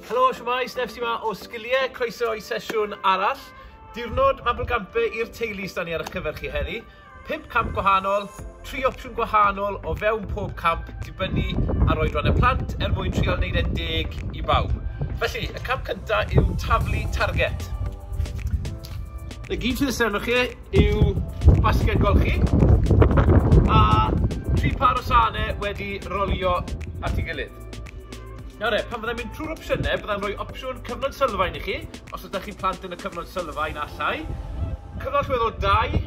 Helo, siwmai, Steph sy'n ma o Sgiliau, croeso i sesiwn arall. Diwrnod Mabel Gampe i'r teulu sy'n ni ar eich cyfer chi heddi. Pump camp gwahanol, tri opsiwn gwahanol o fewn pob camp dibynnu ar oedran y plant er mwyn trial wneud e'n deg i bawb. Felly, y camp cynta yw taflu target. Y gyd sydd serno chi yw basged golchi a tri pâr o sane wedi rolio at ei gilydd. Nawr e, pan fyddai'n mynd trwy'r opsiynau, byddai'n rhoi opsiwn cyfnod sylfaen i chi, os ydych chi'n plant yn y cyfnod sylfaen allai, cyfnod llwedd o dau,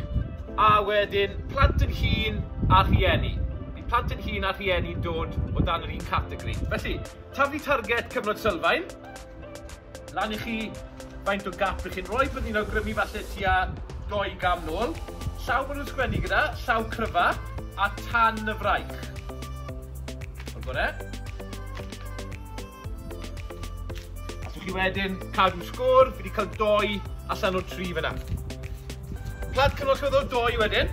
a wedyn plant yn hun a rhieni. Bydd plant yn hun a rhieni'n dod o dan yr un categori. Felly, taflu target cyfnod sylfaen, Lan i chi faint o gap rych chi'n rhoi, byddwn i'n awgrymu falle tua dou gam nôl. Llaw bod nhw'n sgwennu gyda, llaw cryfa, a tan y fraich. O'r gore. Allwch chi wedyn cadw sgôr, fi wedi cael doi allan o tri fyna. Plant cynnwys chi ddo doi wedyn.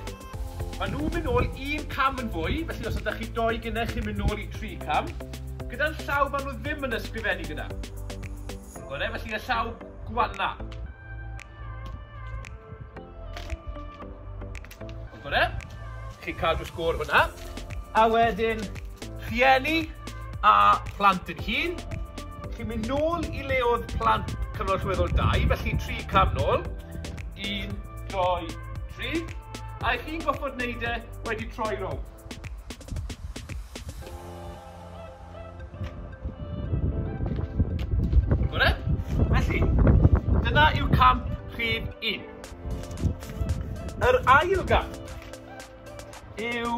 Maen nhw'n mynd nôl un cam yn fwy, felly os ydych chi doi gynnau chi'n mynd nôl i tri cam. Gyda'n llaw maen nhw ddim yn ysgrifennu gyda. Gorau felly y llaw gwanna. Gorau. Chi'n cadw sgôr hwnna. A wedyn, rhieni a plant yn hun. Chi'n mynd nôl i leodd plant cyfnod rhywedd o dau, felly tri cam nôl. Un, doi, Trig, a ych chi'n gorfod wneud e wedi troi rownd. Bore? Felly, dyna yw camp rhif un. Yr ail gamp. yw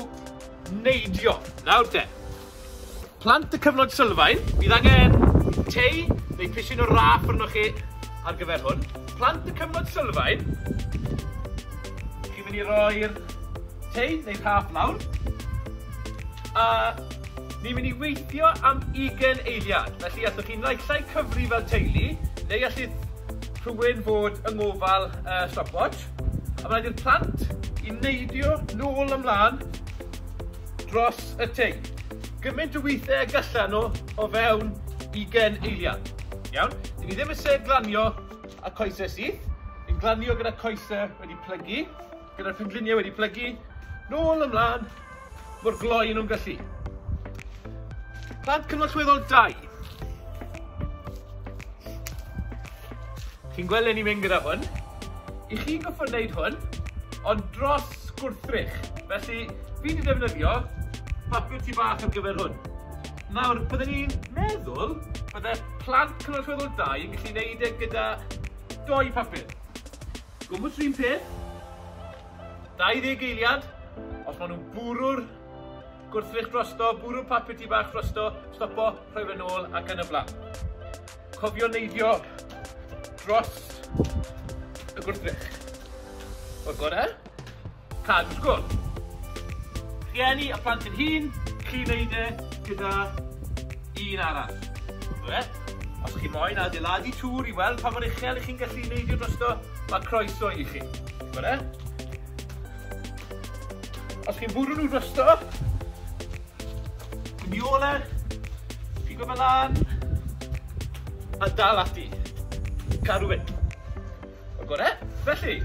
neidio. Nawr de, plant y cyfnod sylfaen, bydd angen tei neu pisyn o raff arnoch chi ar gyfer hwn. Plant y cyfnod sylfaen, chi'n mynd i roi'r tei neu raff lawr. A ni'n mynd i weithio am 20 eiliad. Felly, allwch chi'n naillai cyfri fel teulu, neu allith rhywun fod yng ngofal uh, stopwatch. A rhaid i'r plant i neidio nôl a mlân dros y tŷ gymaint o weithiau y gallan nhw o fewn ugain eiliad. Iawn? Dyn ni ddim eisiau glanio a coesau syth. Yn glanio gyda coesau wedi plygu, gyda'r pengliniau wedi plygu, nôl ymlaen, Mor gloi yn nhw'n gallu. Plant Cyngor Chweddol 2. Chi'n gweld le ni'n mynd gyda hwn? I chi goffo wneud hwn, ond dros gwrthrych. Felly, fi wedi defnyddio papur tu bach ar gyfer hwn. Nawr, byddwn ni'n meddwl bydde plant Cyngor Chweddol 2 yn gallu wneud e gyda doi papur. Gwmwys rhywun peth, 20 eiliad, os maen nhw'n bwrw'r gwrthrych drosto, bwrw'r papur di bach drosto, stopo, rhoi fe'n ôl ac yn y blaen. Cofio neidio dros y gwrthrych. O'r gore, cadw sgwr. Rhieni a plant yn hun, chi wneud e gyda un arall. O'r Os chi moyn adeiladu tŵr i weld pa mor uchel ych chi'n gallu neidio drosto, mae croeso i chi. Fyna. Os chi'n bwrw nhw drosto, yn i ole, pigo fe lan, a dal ati. Cadw fe. O gore, felly,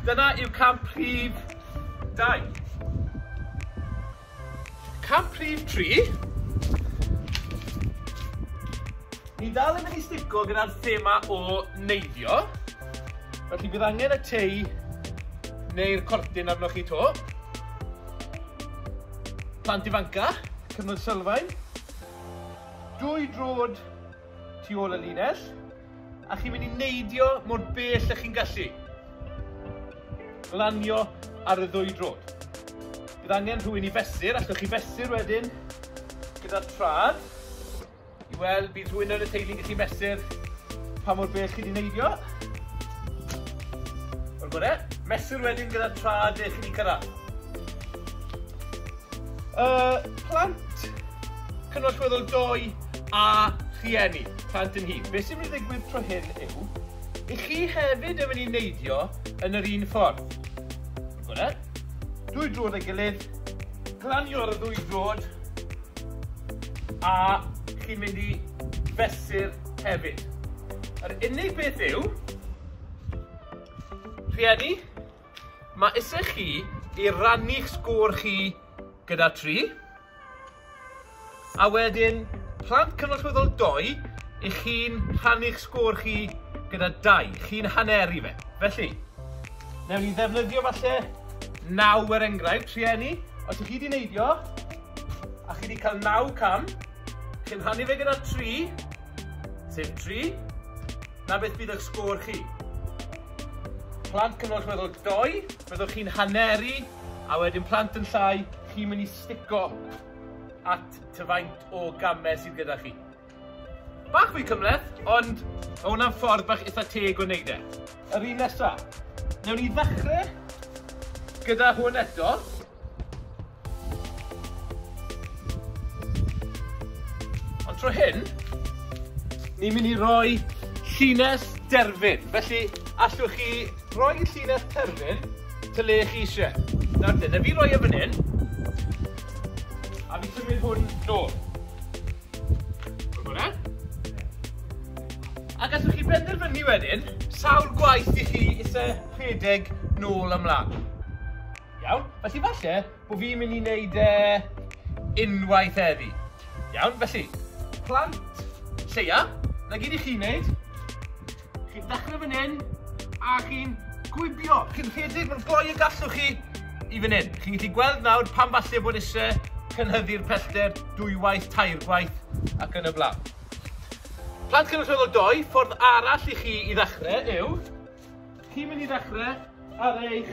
dyna yw camp rhif 2. Cam rhif tri. Ni dal yn mynd i stico gyda'r thema o neiddio. Felly bydd angen y tei neu'r cortyn arnoch chi to. Plant ifanca, cyfnod sylfaen. Dwy drod tu ôl y linell. A chi'n mynd i neidio mor bell â chi'n gallu. Lanio ar y ddwy drod. Bydd angen rhywun i fesur, allwch chi fesur wedyn gyda'r trad. I weld, bydd rhywun yn y teulu'n gallu mesur pa mor bell chi wedi neidio. O'r gore, mesur wedyn gyda'r trad eich chi wedi cyrraedd. Uh, plant, cynnwys weddol doi a rhieni. Plant yn hŷn. Beth sy'n mynd i ddigwydd tro hyn yw, i chi hefyd yn mynd i neidio yn yr un ffordd. Gwna? Dwy drod ei gilydd, glanio'r ddwy drod, a chi'n mynd i fesur hefyd. Yr unig beth yw, rhieni, mae eisiau chi i rannu'ch sgôr chi gyda tri, A wedyn, plant cynorthwyol dou, i chi'n rhannu'ch sgôr chi gyda dau, chi'n haneru fe. Felly, newn ni ddefnyddio falle naw er enghraifft, rhieni, os ych chi wedi neidio, a chi wedi cael naw cam, chi'n rhannu fe gyda tri, sef tri, na beth bydd eich sgôr chi. Plant cynorthwyol dou, byddwch chi'n haneru A wedyn plant yn llai, chi'n mynd i stico at ty faint o gamau sydd gyda chi. Bach fwy cymleth, ond mae hwnna'n ffordd bach eitha teg o wneud e. Yr un nesa. Newn ni ddechrau gyda hwn eto. Ond tro hyn, ni'n mynd i roi llinell derfyn. Felly, allwch chi rhoi llinell terfyn to le chi eisiau. Nawr te, na fi roi e fan hyn, a fi symud hwn nôl. Gwybod e? A gallwch chi benderfynu wedyn, sawl gwaith i chi eisiau rhedeg nôl ymlaen. Iawn? Felly falle bod fi'n mynd i wneud e unwaith heddi. Iawn? Felly, plant lleia, na gyd i chi wneud, Chi'n dechrau fan hyn, a chi'n gwibio. Chi'n rhedeg mor gloi y gallwch chi i fan hyn. Chi'n gallu gweld nawr pan falle bod eisiau cynhyddu'r pellter dwywaith, tair gwaith ac yn y blaen. Plant cynrychiol o doi, ffordd arall i chi i ddechrau yw, chi'n mynd i ddechrau ar eich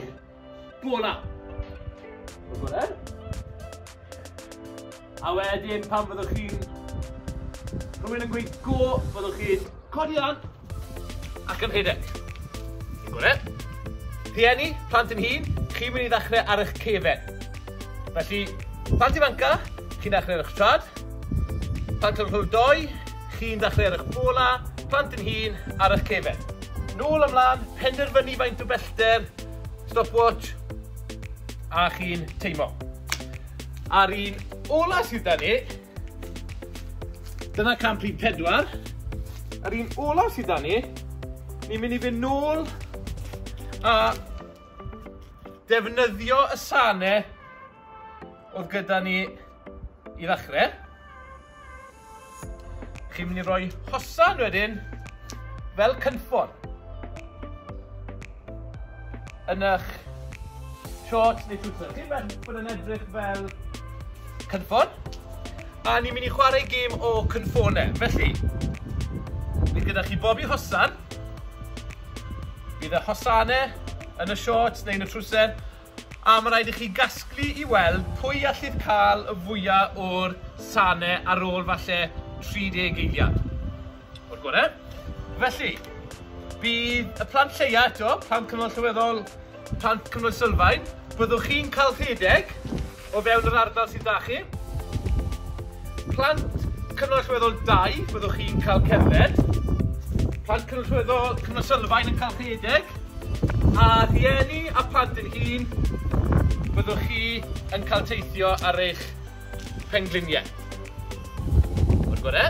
Bola! Bola bola. A wedyn pan fyddwch chi'n... Rhywun yn gweud go, fyddwch chi'n codi lan ac yn rhedeg. Yn gwneud? E? Rhieni, plant yn hun, chi'n mynd i ddechrau ar eich cefen. Felly, plant ifanca, chi'n ddechrau ar eich trad. Plant yn rhyw doi, chi'n ddechrau ar eich bola, plant yn hun ar eich cefen. Nôl ymlaen, penderfynu faint o bellter Stopwatch. A chi'n teimo. A'r un ola sydd da ni, dyna camp rhif pedwar. A'r un ola sydd da ni, ni'n mynd i fynd nôl a defnyddio y sane oedd gyda ni I ddechrau, chi'n mynd i roi hosan wedyn fel cynffon yn eich shorts neu footer. Chi'n mynd bod yn edrych fel cynffon. A ni'n mynd i chwarae gêm o cynffonau. Felly, bydd gyda chi bob i hosan. Bydd y hosanau yn y shorts neu yn y trwsen. A ma' raid i chi gasglu i weld pwy allith ca'l y fwya o'r sane ar ôl falle 30 eiliad. O'r gore. Felly, bydd y plant lleia eto, plant cyfnod allweddol, plant cyfnod sylfaen, byddwch chi'n ca'l rhedeg o fewn yr ardal sydd 'da chi. Plant Cyngor Allweddol dau, byddwch chi'n cael cerdded. Plant Cyngor Allweddol Cyngor Sylfaen yn cael rhedeg. A rhieni a plant yn hun, byddwch chi yn cael teithio ar eich pengliniau. O'r gore.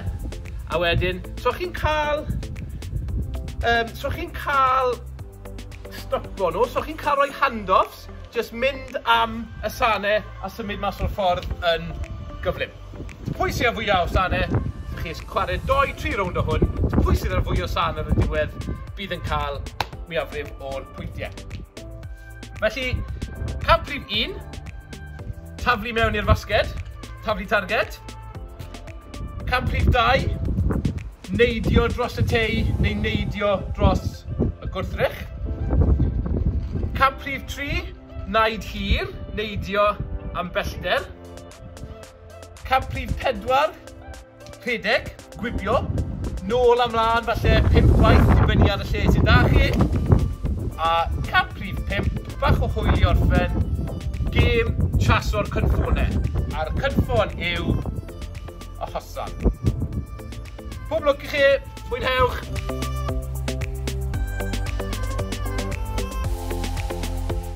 A wedyn, so chi'n cael... Um, so chi'n cael stopo nhw, so chi'n cael rhoi handoffs Jyst mynd am y sane a symud mas o'r ffordd yn gyflym. T' pwy sy ar fwya o sane? Dych chi jyst chware dou tri rownd o hwn, t' pwy sydd ar fwy o sane ar y diwedd bydd yn ca'l mwyafrif o'r pwyntie. Felly, cam prif un, taflu mewn i'r fasged, taflu targed. Cam prif dau, Neidio dros y tei neu neidio dros y gwrthrych. Cam prif tri, naid hir, neidio am bellter. Cam prif pedwar, rhedeg, gwibio, nôl a mlân falle pump gwaith dibynnu ar y lle sydd 'da chi. A cam prif pump, bach o hwyl i orffen, gêm traso'r cynffone. A'r cynffon yw a Hassan. Pob lwc i chi, mwynhewch!